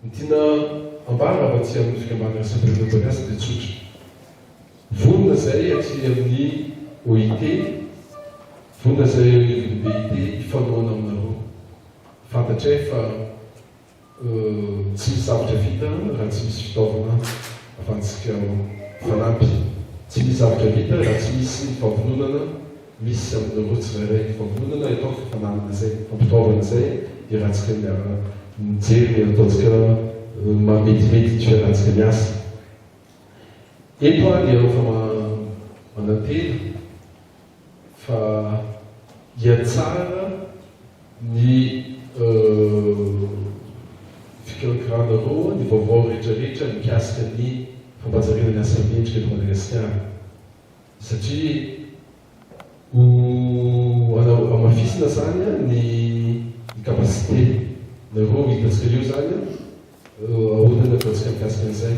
Ny tiana ambara avy aty amin'ny fikambanana Samperin'ny Orinasa dia tsotra. Vonona izahay aty amin'ny OIT, vonona izahay eo anivon'ny BIT hifanohana aminareo. Fantatray fa. Tsy misy zavatra vita raha tsy misy fitaovana afantsika ho fanampy. Tsy misy zavatra vita raha tsy misy ny fampiononana misy aminareo tsirairay. Ny fampiononana ataoko fa fananana izay, fampitaovana izay iarahantsika miara mijery ny ataontsika mahametimetyny fiarahantsika miasa. Eto aho dia efa manantena. Fa dia tsara ny fikirakirahanareo ny vaovao rehetrarehetra mikasika ny fampajariana ny asa mendrika eto Madagasikara satria ho anareo hamafisina zany ny capacité nareo hitantsika eo zany ahoana ny atantsika mikasika an'izay.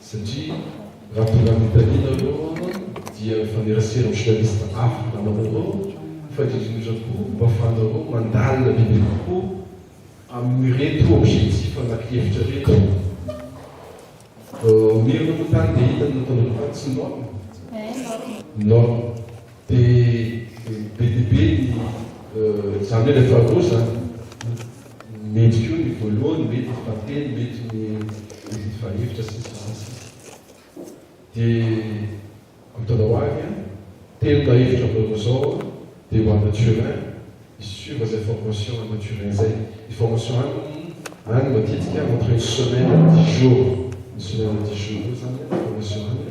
satria raha tonga amin'ny taliana aloha dia mifanerasera amin'ny journaliste hafa namanareo fa indrindra indrindra koa mba afahanareo mandalina bebe kokoa amin'ireto objectif anaky hevitra ireto Mirina Motard dia inona no nataonareo tany? Tsy norme? Norme. Dia be dia be ny, izany hoe rehefa roa izany, mety koa ny voalohany, mety ny fahatelo, mety ny ny fahefatra sy ny sisa sy ny sisa. Dia ampitandao ahy an, telo na efatra ambaonina izao aho dia ho any Turin hi-suivre izay formation any Turin izay. Ny formation any any matetika entre une semaine et dix jours, une semaine et dix jours eo izany ny formation any.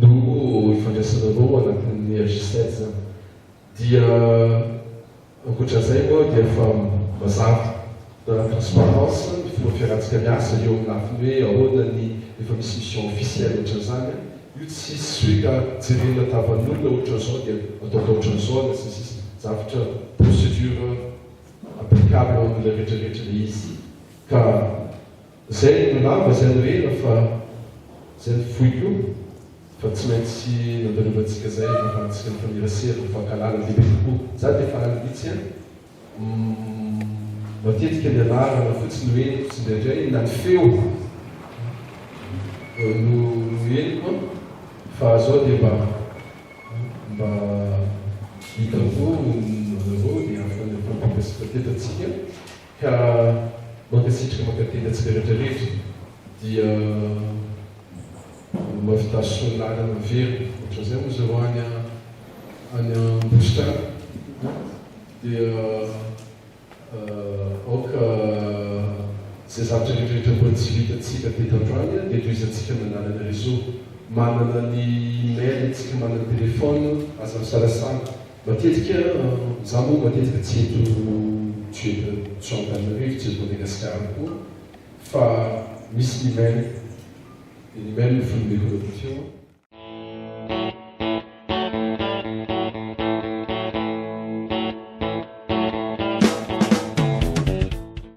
no ifandraisanareo ao anatin'ny AJSEDS dia ankoatran'izay moa dia efa mazava dans la transparence ny fomba fiarantsika miasa eo amin'ny lafiny hoe ahoana ny efa misy mission officielle ohatran'izany an! io tsy hisy hoe ka jerena tavan'olona ohatran'izao dia ataovy ohatran'izao na sy ny sisa zavtra procedure applicable amin'ilay rehetrarehetra ilay izy ka Zay no lava zay no ela fa zay no fohy koa fa tsy maintsy nandalovantsika zay ahafahantsika mifanerasera mifankahalala bebe kokoa za de faly mihitsy an matetika ny anarana fotsiny no henoko tsindraindray na ny feo no no henoko an fa zao de mba mba hitako anareo de afaka mifampikasitra teto atsika. Ka mankasitraka mankatenda antsika rehetra rehetra dia mavitaso lalana miverina otran'izay moa zao any any ambositra any a dia aoka zay zavatra rehetra rehetra mbola tsy vitantsika teto androany a dia tohizantsika amin'ny alalan'ny réseau manana ny email tsika manana ny téléphone aza misalasala Matetika za moa matetika tsy eto tsy eto tsy ao Antananarivo tsy eto Madagasikara koa fa misy ny mail dia ny mail no foneneko anareo teo an.